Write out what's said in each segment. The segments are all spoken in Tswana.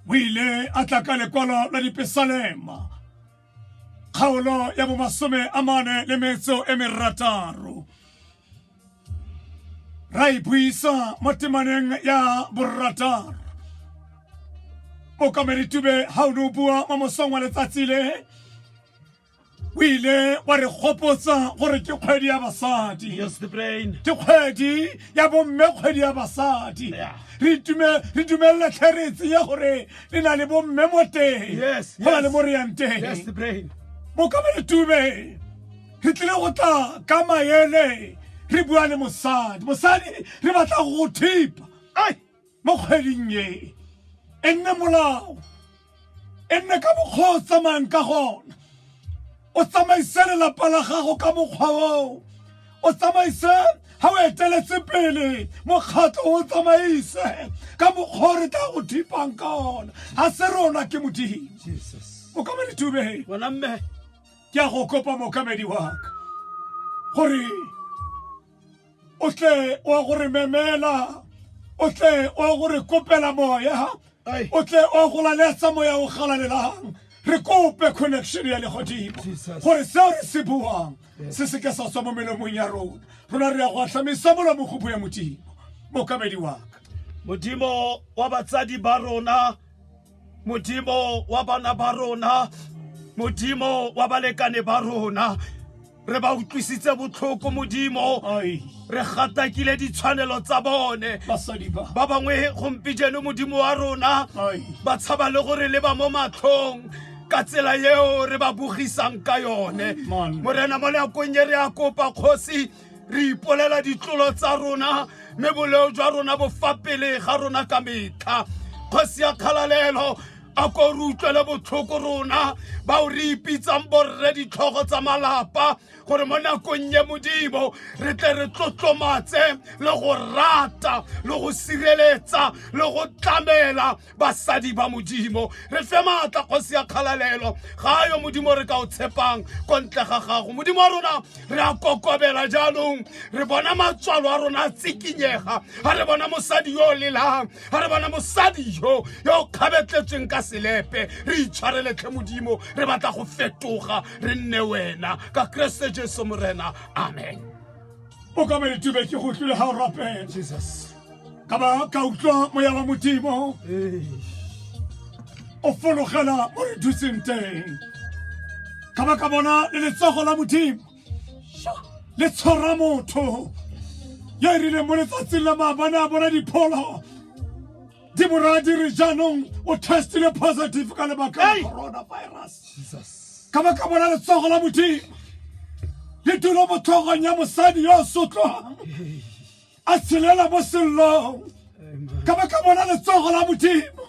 o ile a tla ka lekwalo la dipesalema kgaolo ya bomasome a mane le metso e merataro ra e buisa mo temaneng ya borataro okameditube ga o ne o bua mo mosong wa letsatsi le o ile wa re gopotsa gore ke kgwedi ya basadi ke kgwedi ya bomme kgwedi ya basadi re dumelele tlheretse ya gore le na le bomme mo teng go na le mo re yang teng bokaba le tume re tlile go tla ka maele re bua le mosadi mosadi re batla go thipa mo kgweding e e nne molao e nne ka mokgwa o tsamayang ka gona o tsamaise lelapa la gago ka mokgwa oo o tsamaise ga o eteletse pele mokgatlho o tsamaise ka mokgwa o re tla go thipang ka ona ga se rona ke modimo mokamedi tube ke a go kopa mokamedi waka gore o tle wa go re memela o tle wa go re kopela moya o tle wa go laletsa moya o galalelang re kope connection ya legodimo gore seo re se buang se seke sa tswa mo melomong ya rona rona re ya go atlhamisa molomo go bue modimo mokamedi waka modimo wa batsadi ba rona modimo wa bana ba rona modimo wa balekane ba rona re ba utlwisitse botlhoko modimo re gatakile ditshwanelo tsa bone ba bangwe gompijeno modimo wa rona ba tshaba le gore le ba mo matlhong ka tsela eo re ba bogisang ka yone morena mo nakong e re a kopa kgosi re ipolela ditlolo tsa rona mme boleo jwa rona bo fa pele ga rona ka metlha kgosi ya kgalalelo a ko re utlwele botlhoko rona bao re ipitsang borre ditlhogo tsa malapa gore mo nakong ye modimo re tle re tlotlomatse le go rata le go sireletsa le go tlamela basadi ba modimo re fe maatla kgosi ya kgalalelo ga yo modimo re ka o tshepang ko ntle ga gago modimo wa rona re a kokobela jaanong re bona matswalo a rona a tsikinyega ga re bona mosadi yo o lelang ga re bona mosadi yo yo o kgabetletsweng ka selepe re itshwareletlhe modimo re batla go fetoga re nne wena ka keresete jesu morena amen o ka maitube ke go tlile ga o rapela ka ba ka utlwa moya wa modimo o fologela mo re thuseng teng ka ba ka bona le letsogo la modimo le tshwara motho yo e rileng mo letsatsing la maabane a bona dipholo diboradi re jaanong o testile positive ka lebaka la coronavirus ka ba ka bona letsogo la modimo le tulo mo tlhogong ya mosadi yo o sotlwang a tshelela mo sellong ka ba ka bona letsogo la modimo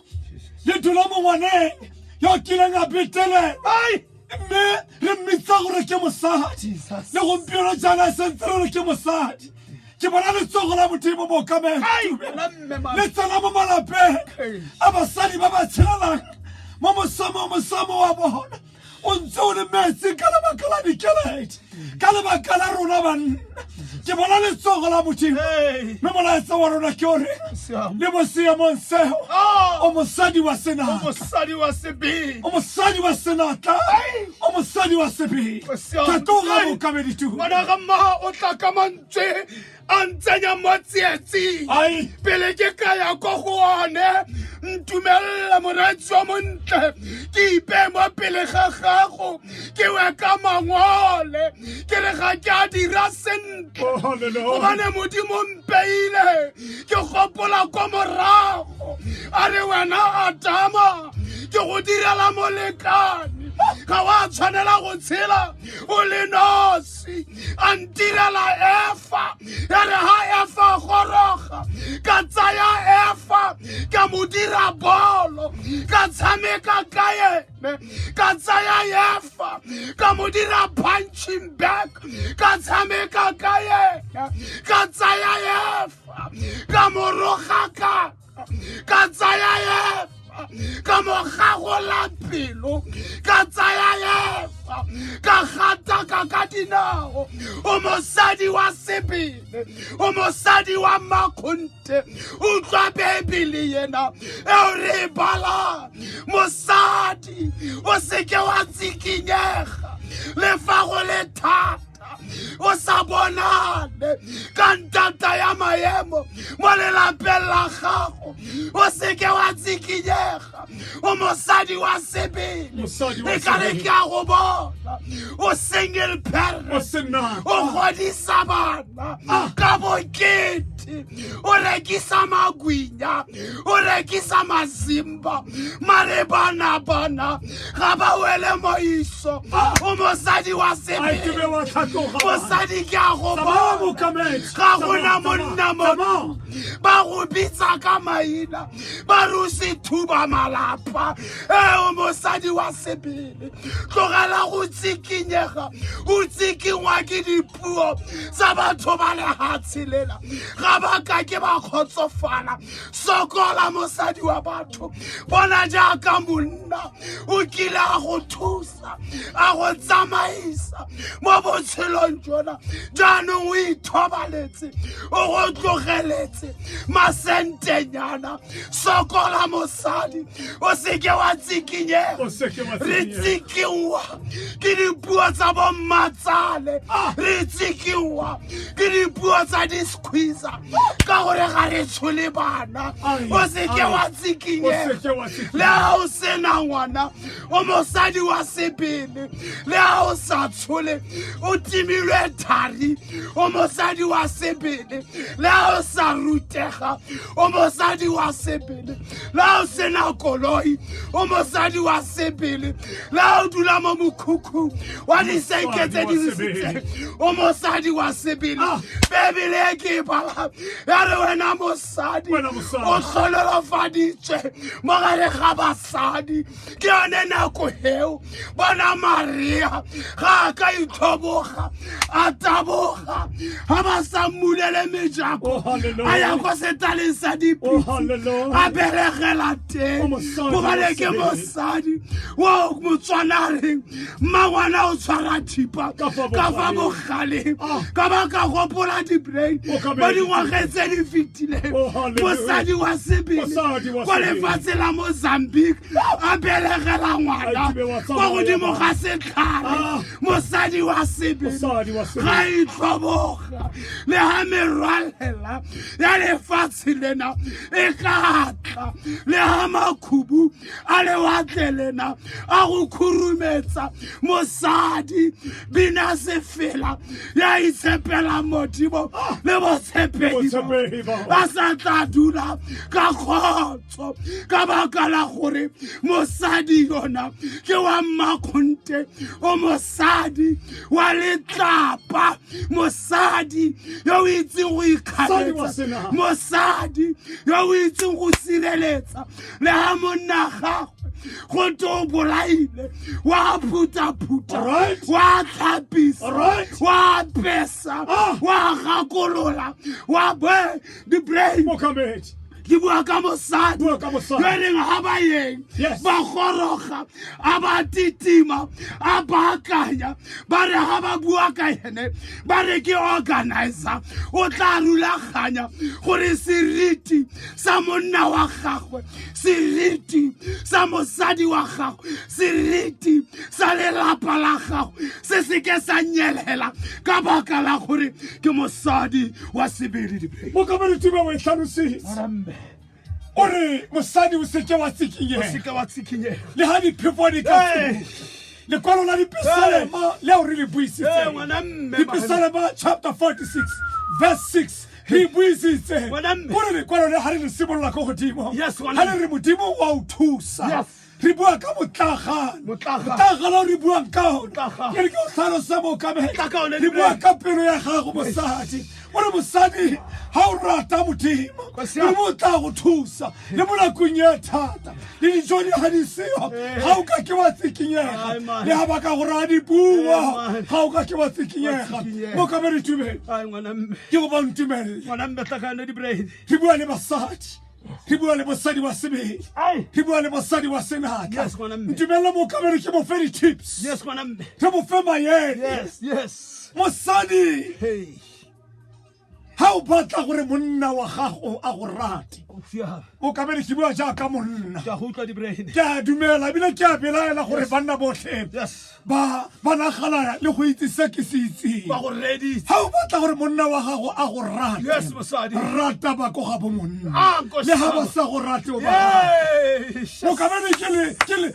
le tulo mo ngwaneng yo o kileng a betelelwa mme re mmitsa gore ke mosadi le gompieno jaana e sentse re re ke mosadi ke bona letsogo la modimo bookamelo le tsena mo malapeng a basadi ba ba tshelelang mo mosamo mosamo wa bona o ntse o le metsi ka lebaka la dikeledi ka lebaka la rona banna ke bona letsogo la modimo mme molaetsa wa rona ke ore le mo seemong seo ah! o mosadi wa senatla o mosadi wa senatla o mosadi wa sebele ka tloga bokamedituo a ntsenya mo tsietsing pele ke ka ya ko go one ntumelela moratsi wa montle ke ipe mo pele ga gago ke we ka mangole ke re ga ke a dira sentle oh, gobane modimo mpeile ke gopola ko morago a re wena adama ke go direla molekane ga wa tshwanela go tshela o le nosi metsi a ntirela efa ya re ha efa goroga ka tsaya efa ka mo dira bolo ka tshameka ka ene ka tsaya efa ka mo dira punching back ka tshameka ka ene ka tsaya efa ka mo roga ka ka tsaya efa ka mogagola pelo ka tsaya efa ka gataka ka dinao o mosadi wa sebele o mosadi wa makgonte utlwa bebele yena eo re e balang mosadi o seke wa tsikinyega le fa go le thata thata o sa bonane ka ntata ya maemo mo lelapeng la gago o seke wa tsikinyega o mosadi wa sebele e kare ke a go bona o single parent o godisa bana ah. ka bokete mate o rekisa magwinya o rekisa mazimba mare bana bana ga ba wele moiso o mosadi wa sebele mosadi ke a go bona ga gona monna mo ba go bitsa ka maina ba re o se thuba malapa eo mosadi wa sebele tlogela go tsikinyega o tsikinngwa ke di puo tsa batho ba lehatshe lela ga ba ka ke ba kgotsofala sokola mosadi wa batho bona jaaka monna o kile a go thusa a go tsamaisa mo botshelong jona jaanong o ithobaletse o go tlogeletse masentenyana sokola mosadi o seke wa tsikinyega O seke wa re tsikinyega. tsikiwa ke dipuo tsa bommatsale Ah. re tsikiwa ke dipuo tsa disquisa ka gore ga re tshole bana Ai, o seke ai. wa O tsikinyega seke wa tsikinyega. le ga o sena ngwana o mosadi wa sebele le ga o sa tshole o timilwe thari o mosadi wa sebele le ga o sa rutega o mosadi wa sebele la o sena koloi o mosadi wa sebele la o dula mo mokhukhung wa disenke tse di risitseng o mosadi wa sebele ah. bebele e ke e bala ya re wena mosadi o tlhololofaditswe mo gare ga basadi ke yone nako eo bona maria ga a ka itlhoboga a taboga ga ba sa mmulele mejako a ya ko setaleng sa dipitsi a beregela teng gobane ke mosadi o motswanareng mmagwana o tshwara thipa ka fa bogaleng ah. ka ba ka gopola dibrain mo dingwageng tse di fetileng oh, mosadi wa sebele ko lefatshe la mozambique a belegela ngwana kwa godimo ga setlhare ah. mosadi wa sebele ga itlhoboga le ga merwalela ya lefatshe lena e ka tla le ga makhubu a lewatle lena a go khurumetsa mosadi bina sefela ya itshepelang modimo le botshepegi a sa tla dula ka kgotso ka baka la gore mosadi yona ke wa mmakgonte o mosadi wa letlapa mosadi yo o itseng go ikgaletsa mosadi yo o itseng go sireletsa le ga monna gago go te o bolaile wa phuthaphutha wa tlhapisa wa pesa ah. wa gakolola wa be di-brain ke bua ka mosadi yo e reng ga ba yeng ba goroga a ba titima a baakanya ba re ga ba bua ka ene ba re ke organizer o tla rulaganya gore seriti sa monna wa gagwe seriti sa mosadi wa gago seriti sa lelapa la gago se seke sa nyelela ka baka la gore ke mosadi wa sebedi dipedi mokabaritime o e tlhalositse ore mosadi o seke wa tsikinyega wa tsikinyega le ga diphefo di ka lekwalo la dipesalema leo re le buisitse dipesalema chapter 46 verse 6 re buisitse Bona mme. gore lekwalo le ga re le simolola ko godimo Yes, ga ngwana. le re modimo wa o thusa Yes. re bua ka motlagano Motlagano. motlagano o re buang ka one Motlagano. ke re ke o tlhalosa mookamedi Tla ka one, re bua Lebohela. ka pelo ya gago mosadi o re mosadi ga o rata modimo Kwa siya. modimo o tla go thusa le mo nakong ya thata le dijo di ga di seyo ga o ka ke wa tsikinyega le ga baka gore a di bua ga o ka ke wa tsikinyega mo ka ba re tumele ke go ba ntumelele re bua le basadi re bua le bosadi wa sebele re bua le bosadi wa senatla ntumelele mo ka bere ke bofe di-tips re bofe mayele mosadi ga o batla gore monna wa gago a go rate o ka bele ke bua jaaka monna ke a dumela ebile ke a belaela gore banna botlhe ba nagana le go itse se ke se itseng ga o batla gore monna wa gago a go rate rata ba ko ga bo monna ah, le ga ba sa go rate o ba o ka bele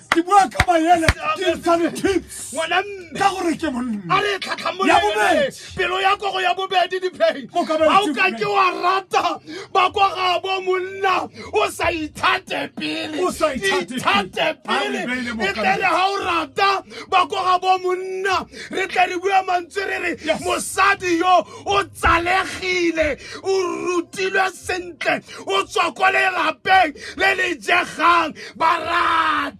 ke bua ka mayele ke ntshane tips ka gore ke monna ya bobedi pelo ya kogo ya bobedi diphei ga o ka ke wa rata ba kwa gabo monna o sa ithate pele ithate pele e tlele ga o rata ba kwa gabo monna re tle re bua mantswe re re mosadi yo o tsalegile o rutilwe sentle o tswa ko lelapeng le le jegang ba rata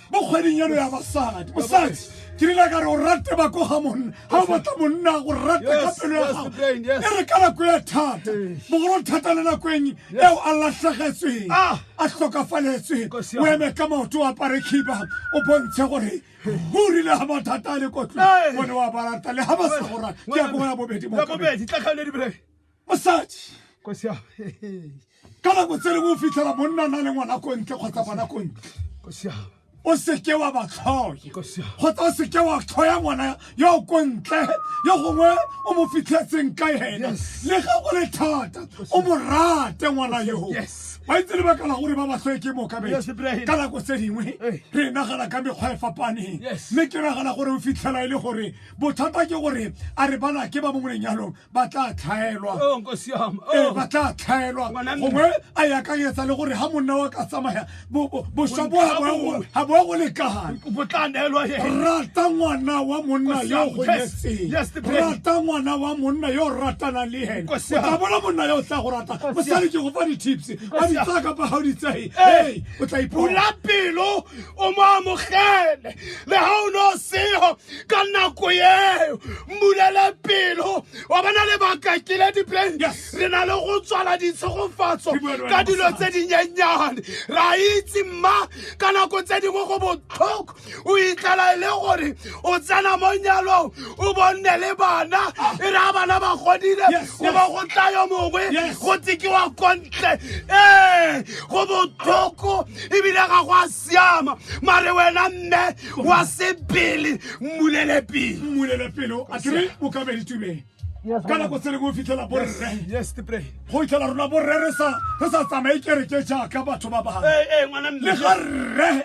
mo kgweding eno ya basadi mosadi ke rile ka re o rate ba ko ga monna ga o batla monna go rate ka pelo ya gago e re ka nako e thata bogolo thata le nako eng eo a latlhegetsweng ah. a tlhokafaletsweng o eme ka maoto o apare khiba o bontshe gore o rile ga mathata a le kotlong o ne wa barata le ga ba sa go rata ke ya ko ya bobedi mo mosadi kosi ya ka nako tse lengwe o fitlhela monna na le ngwana ko ntle kgotsa ngwana ko ntle kosi ya o seke wa ba tlhoye kosi ya kgotsa o seke wa tlhoya ngwana yo o ko ntle yo gongwe o mo fitlhetseng ka ena Yes. le ga go le thata o mo rate ngwana yoo Yes. wa itse lebaka la gore ba ba tlhoye ke moka be Yes, Ibrahim. ka nako tse dingwe Eh. re nagana ka mekgwa e fapaneng Yes. mme ke nagana gore o fitlhela e le gore bothata ke gore a re bana ke ba mo lenyalong ba tla tlhaelwa oh, ee, oh. ba tla tlhaelwa gongwe a e akanyetsa le gore ga monna wa ka tsamaya boswa bo ga bo go lekagane rata ngwana wa monna yo o gonyetseng rata ngwana wa monna yo o ratanang le ene o tla bona monna yo o tla go rata mosadi ke go fa di-tips ba di tsaya kapa ga o di tsaye ee o tla ipula pelo o mo amogele le ga o ne o sego ka nako eo mmulele pelo wa bona lebaka ke le diplane re na le go tswala ditshegofatso ka dilo tse dinyenyane ra itse mma ka nako tse dingwe go botlhoko o itlala e le gore o tsena mo nyalong o bonne le bana ah. e re a bana ba godile o ba go tlayo mongwe go tsekiwa kontle ee go botlhoko ebile ga go a siama mare wena mme wa sebele mmulele pele mmulele pele a kere o ka be ditumeng ka nako tse lengwe o fitlhela borre go itlhela rona borre re sa tsamaye kereke jaaka batho ba bangwe le ga rre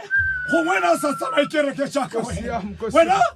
gongwe na sa tsamaye kereke jaaka wena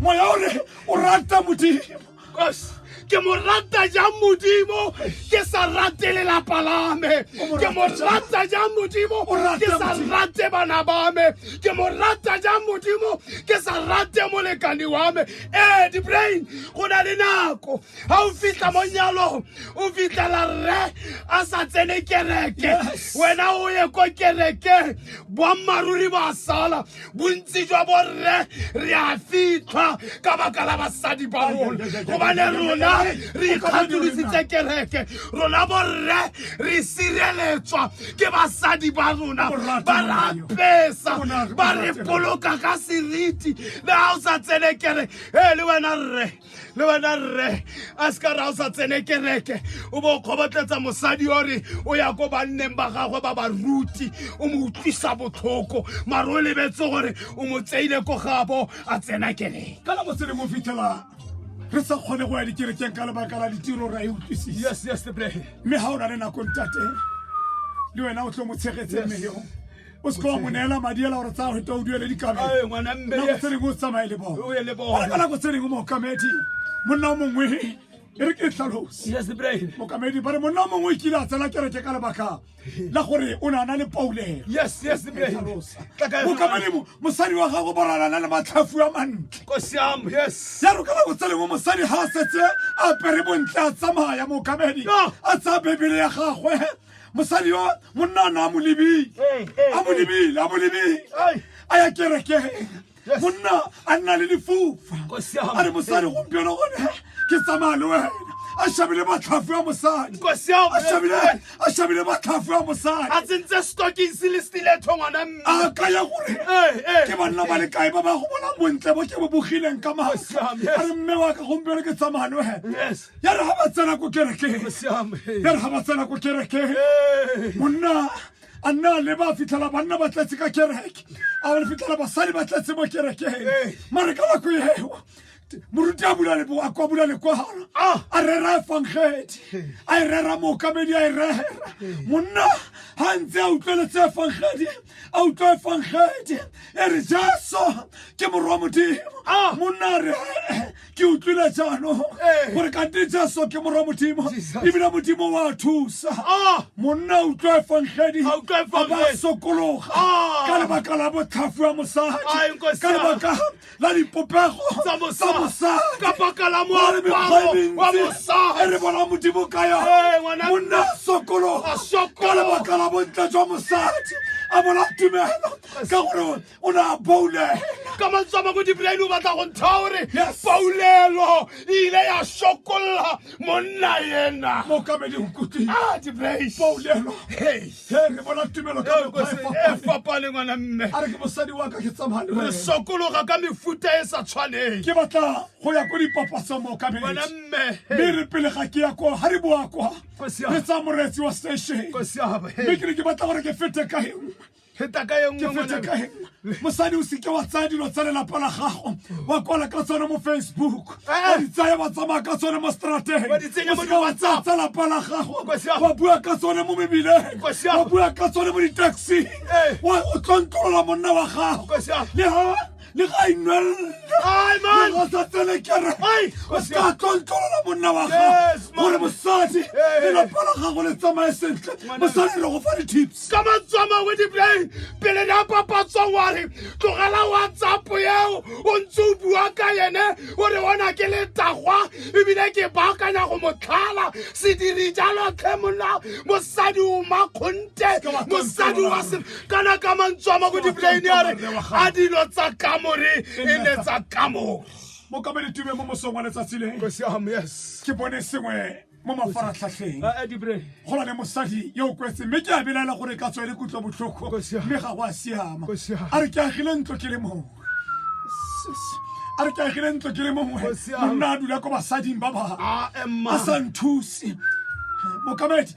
moya o re o rata modimo ke mo rata jang modimo ke sa rate lelapa la me ke mo rata jang modimo ke sa rate bana ba me ke mo rata jang modimo ke sa rate molekane wa me ee dibrain go na le nako ga o fitlha mo nyalong o fitlhela rre a sa tsene kereke wena o ye ko kereke boammaaruri ba sala bontsi jwa borre re a fitlhwa ka baka la basadi ba rona gobane rona re ikgatolositse kereke rona borre re sireletswa ke basadi ba rona ba re apesa ba re boloka ka seriti le ga o sa tsene kere e le wena rre le wena rre a se ka ra o sa tsene kereke o bo o kgobotletsa mosadi ore o ya ko banneng ba gagwe ba ba ruti o mo utlwisa botlhoko mare o lebetse gore o mo tseile ko gabo a tsena kereke ka nako se le mo fitlhela re sa kgone go ya dikerekeng ka lebaka la ditiro ra e utlwisisa mme ga o na le nako ntate le wena o tlo mo tshegetse mme yo o se ka wa mo neela madi ela gore tsaya geta o duele dikabelo nako tse dingwe o tsamaye le bone gore ka nako tse dingwe mookamedi monna o mongwe e re ke tlhalose mokamedi ba re monna o mongwe o kile a tsela kereke ka lebaka la gore o ne a na le paulelo mokamedi mosadi wa gago boralana le matlhafu a mantle ya ro ka nako tse lengwe mosadi ga a setse a apere bontle a tsamaya mokamedi a tsaya bebele ya gagwe mosadi yo monna o ne a mo lebile a mo lebile a mo lebile a ya kerekeng monna a nna le difofa a re mosadi gompieno gone ke tsamaya le wena a shabile batlhafu ya mosadi a shabile batlhafu ya mosadi a tsentse stocking se le stiletho ngwana mme a ka ya gore ke banna ba le kae ba ba go bona bontle bo ke bo bogileng ka maasa a re mme wa ka gompieno ke tsamaya le wena ya re ga ba tsena ko kerekeng Go siame. ya re ga ba tsena ko kerekeng Hey. monna a nna a leba a fitlhela banna ba tletse ka kereke a ba fitlhela basadi ba tletse mo kerekeng Ee. mare ka nako eo t- moruti a bula lebo a kwa bula lekwalo Ah. a rera efangedi a e rera mookamedi a e rera monna ga ntse a utlweletse efangedi a utlwa efangedi e re jesu ke morwa modimo Ah. monna a re ke utlwile jaanong Ee. gore kante jesu ke morwa modimo Jesus. ebile modimo wa thusa Ah! monna o utlwa efangedi A utlwa evangedi. ba sokologa Ah. ka lebaka la botlhafu ya Ai, mosadi Nkosi ka ya. lebaka la dipopego Tsa mosadi. mosadi Ka baka la Ba re moaparo mekgwa e wa mentsi mosadi. e re bona modimo ka Ee, yone ngwana monna a sokologa A sokologa. ka lebaka la bontle jwa mosadi a bona tumelo ka gore o ne a boule ka mantswe a mangwe dibolaele o batla go ntsha gore paulelo e ile ya sokolla monna ena mokamedi o kutlile ah, paulelo he re bona tumelo ka e fapane ngwana mme a re ke mosadi wa ka ke tsamane re sokologa ka mefuta e sa tshwaneng ke batla go ya ko dipapatsong mokamedi ngwana mme mme re pele ga ke ya kwa ga re boa kwa re tsa moretsi wa station mme ke ne ke batla gore ke fete ka engwe feta ka e nngwe ke fetse ngwana. ka eng? mosadi o seke wa tsaya dilo tsa lelapa la gago wa kwala ka tsone mo facebook Eh. wa di tsaya wa tsamaya ka tsone mo strateng Wa di tsenya mo O seke wa tsaya di-WhatsApp. tsa lapa la gago Nkosi ya- wa bua ka tsone mo mebileng Nkosi ya- wa bua ka tsone mo ditaxing Eh. wa o tlontlolola monna wa gago Nkosi ya- le ha le ga inwelelaeosatselekerre o se ka tlontlolola monna wa ga gore mosadi lelapa la gago le tsamaye sentle mosadi re go fa di-tips ka matsama we diplay pele ne a papatswang wa re tlogela whatsapp eo o ntse o bua ka ene o re ona ke letagwa ebile ke baakanya go motlhala sediri jalo tlhe monna mosadi o makgonte mosadi wa kana ka mantswe a ma ko diplaine a re a dilo tsa kamore e ne tsa kamore mokamedi tume mo mosong wa letsatsi le Go siam, yes. ke bone sengwe mo mafaratlhatlheng Eh, eh, dibre go na le mosadi yo o kwetseng mme ke a belaela gore ka tswa e le kutlwa botlhoko Go siama. mme ga go a siama Go siama. a re ke agile ntlo ke le mongwe Sis. a re ke agile ntlo ke le mongwe Go siama. monna a dula ko basading ba ba Ah, Emma. a sa nthuse mokamedi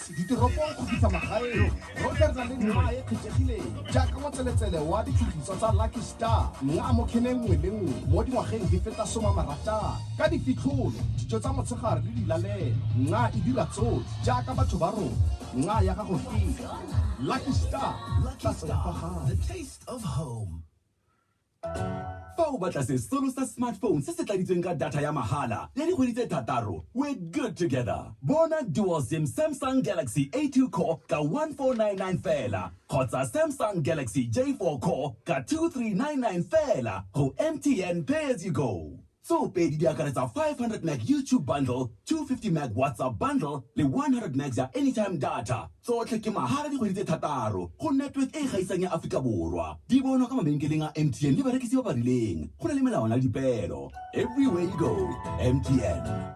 Ditoropong go fitlha magaeng, Rogers a le nna e kgethegileng jaaka motseletsele wa ditshutiso tsa Lucky Star nna mo kheneng nngwe le nngwe mo dingwageng di feta soma marataro. Ka difitlholo, dijo tsa motshegare le dilalelo, nna e dira tsotlhe jaaka batho ba rona nna ya gago fela. Lucky Star, tlase wa fa gae. fa o batla sesolo sa smartphone se se tladitsweng ka data ya mahala ya dikgwedi tse thataro we're good together bona dual sim samsung galaxy a2 core ka 1499 fela kgotsa samsung galaxy j4 core ka 2399 fela go mtn pay as you go Tseo pedi di akaretsa 500 meg YouTube bundle, 250 meg WhatsApp bundle le 100 megs ya anytime data. Tsotlhe ke mahala dikgwedi tse thataro go network e e gaisang ya Aforika Borwa. Di bonwa ka mabenkeleng a MTN le barekisi ba ba rileng. Go na le melawana le dipeelo. Everywhere you go, MTN.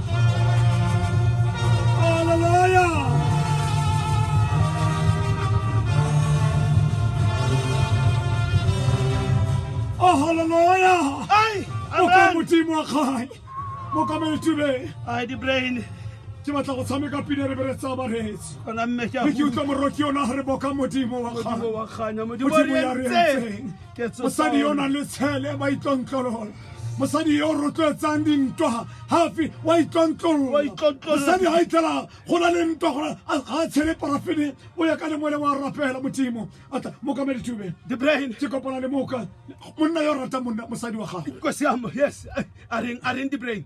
modimo wa kgale mo kameletsube ai di-brain ke batla go tshameka pina re bere tsa baretsi ona mme ke utlwa moroki yona re boka modimo wa kganya modimo ya re entseng mosadi yo o nang le tshele ba itlontlolola mosadi yo o rotloetsang dintwa gafe wa itlontlololmosadi ga itlhela go na le ntwa gore ga a tshele parafene o ya ka le mole wa rapela modimo atla mokamedi tube debrain ke kopana le moka monna yo o ratang monna mosadi wa gago yes a reng debrain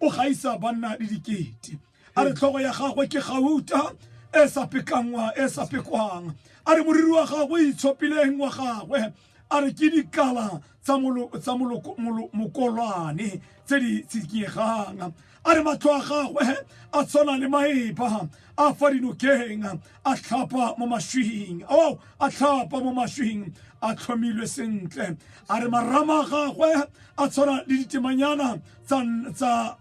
o gaisa banna le dikete a re tlhogo ya gagwe ke gauta e sa pekanngwa e sa pekwang a re moriri wa gagwe itshopileng wa gagwe a re ke dikala tsa mokolwane tse di tsikiegang a re matlho a gagwe a tshwana le maeba a fa dinokeng a tlhapa mo maswing o a tlhapa mo maswing a tlhomilwe sentle a re marama a gagwe a tshwana le ditemanyana tsa tsa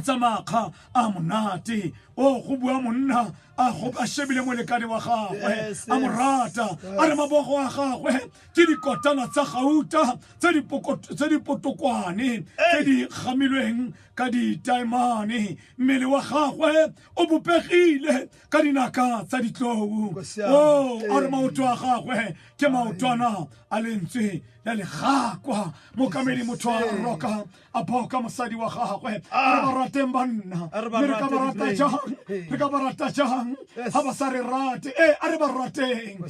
tsa makga a monate o go bua monna a go a shebile molekane wa gagwe a mo rata a re mabogo a gagwe ke dikotana tsa gauta tse di tse di potokwane tse di gamilweng ka ditaemane mmele wa gagwe o bopegile ka dinaka tsa ditlou o a re maoto a gagwe ke maotwana a lentswe la legakwa mokamedi motho a roka a boka mosadi wa gagwe a re ba rateng banna mme re ka ba rata jang re ka ba rata jang ga ba sa re rate ee a re ba rateng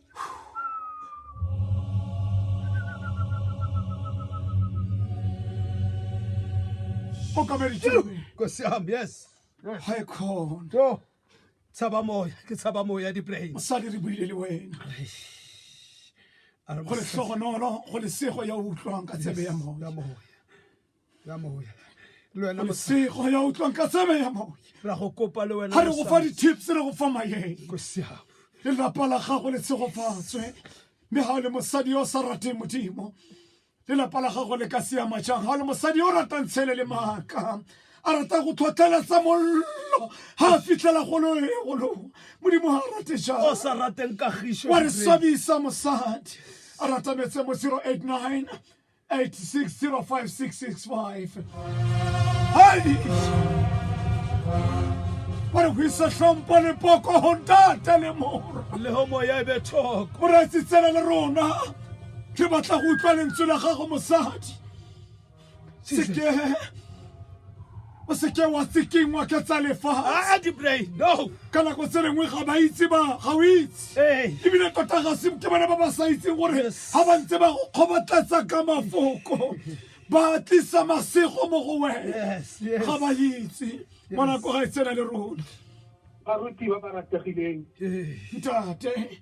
kosiam yes hi con to tshaba moya ke tshaba moya di-brain mosadi re buile le wena go le tlhogonolo go le sego ya utlwang ka tshebe ya moya ya maoya le wena mosego ya utlwang ka tsebe ya maoya ra go kopa le wena ga re go fa di-tips re go fa mayeng le lapa la gago le tshegofatswe mme ga o le mosadi yo o sa rateng modimo le lapa la gago le ka siama jang ga o le mosadi yo o ratang tshele le maaka a rata go tlhotlheletsa mollo ga a fitlhela gologolo modimo ga a rate jao sa rateng kagiso wa re swabisa mosadi a rata metse mo 089 8605665 hayi gore go isa tlhompo le poko go ntata le moro le go moya e be thoko moraitsi tsena le rona ke batla go utlwa lentswe la gago mosadi seke o seke wa tsekingwa ke tsa lefa a di pray no ka nako tse lengwe ga ba itse ba ga o itse ee ebile tota ga se ke bana ba ba sa itseng gore Yes. ga ba ntse ba go kgobatlatsa ka mafoko ba tlisa masego mo go wena yes yes ga ba itse ngwanako ga e tsena le rona baruti ba ba rategileng ee ntate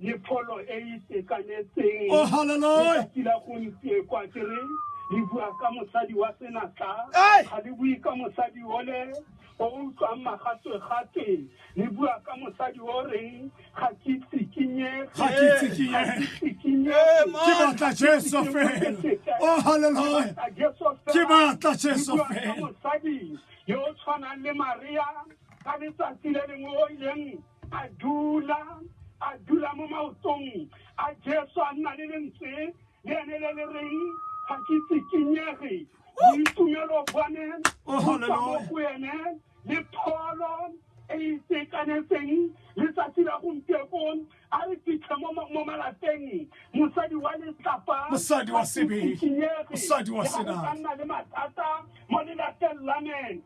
le pholo e e itekanetseng oh hallelujah letsatsi la gompieko a kere le bua ka mosadi wa senatla Hey! ga le bue ka mosadi ole o o utlwang magatwegatwe le bua ka mosadi o reng ga ke tsikinyege Ga ke tsikinyege. Eh, man. ke batla jesu fela oh hallelujah Ke batla Jesu fela. mosadi yo o tshwanang le maria ka letsatsi le lengwe o ileng a dula a dula mo maotong a jesu a nna le lentswe le ene le le reng ga ke tsikinyege boitumelo bone oh, bo tswa mo go ene le pholo e e itekanetseng letsatsi la gompiekong a re fitlhe mo malapeng mosadi wa letlapa mosadi wa sebele mosadi wa senatla nna le mathata mo lelapeng la me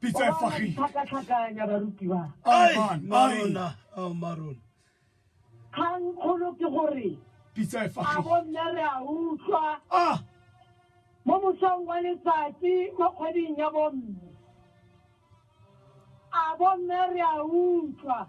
pitsa e fagile tlhakatlhakanya barutiwa marona marona kgang kgolo ke gore pitsa e fagile a bonne re a utlwa ah mo mosong wa letsatsi mo kgweding ya bomme a bomme re a utlwa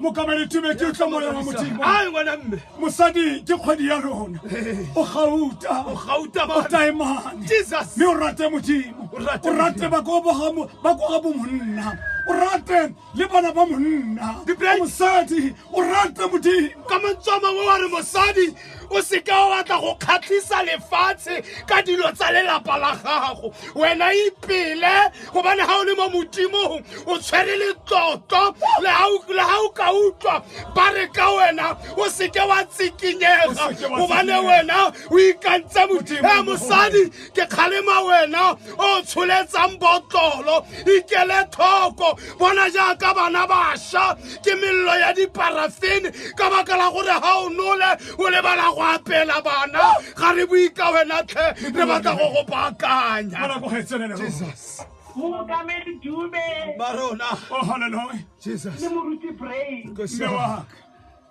mokaba letube ke utlwa moya wa modimo a ngwana mme mosadi ke kgwedi ya lona o gauta o gauta ba o taemane jesus mme o rate modimo o rate ba go ba go ga bomonna o rate le bana ba monna mosadi o rate modimo ka mantswa mangwe wa re mosadi o seke wa batla go kgatlhisa lefatshe ka dilo tsa lelapa la gago wena ipele gobane ga o le mo modimong o tshwere letlotlo le ga o ka utlwa ba re ka wena o seke wa tsikinyega gobane wena o ikantse modimo mosadi ke kgalema wena o tsholetsang botlolo ikele tlhoko bona jaaka bana bašwa ke melelo ya diparafene ka baka la gore ga o nole o lebala go apela bana ga re boika wena tlhe re batla go go baakanya mookamedi dube barona oh, le moruti brain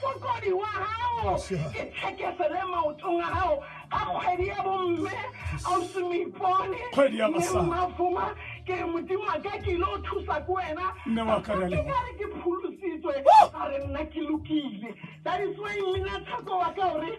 Mokokodi wa gago ke tshekese le maotong a gago a kgwedi ya bomme ausi moipone Kgwedi ya basadi. Mme mmafuma ke re modimo wa ka ke ile o thusa ke wena Mme wa ka, re a Ke leboha. ka re ke pholositswe a re nna ke lokile dadiswe mmina tsheko wa ka o re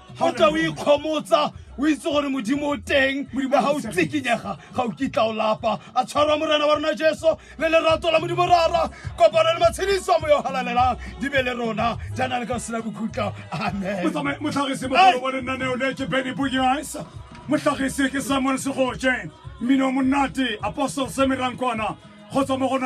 ga o tla o ikgomotsa o itse gore modimo o teng ga o tsikinyega ga o kitla o lapa a tshwarwa morena wa rona jesu le lerato la modimo rara kopano le matshediso a moya o galalelang di be le rona jaana le ka sena bokhutla amen motlhagisi mogolo wa lenaneo le ke benny bogias motlhagisi ke samuel segoje mmino monate apostle semerankwana kgotsa mo gona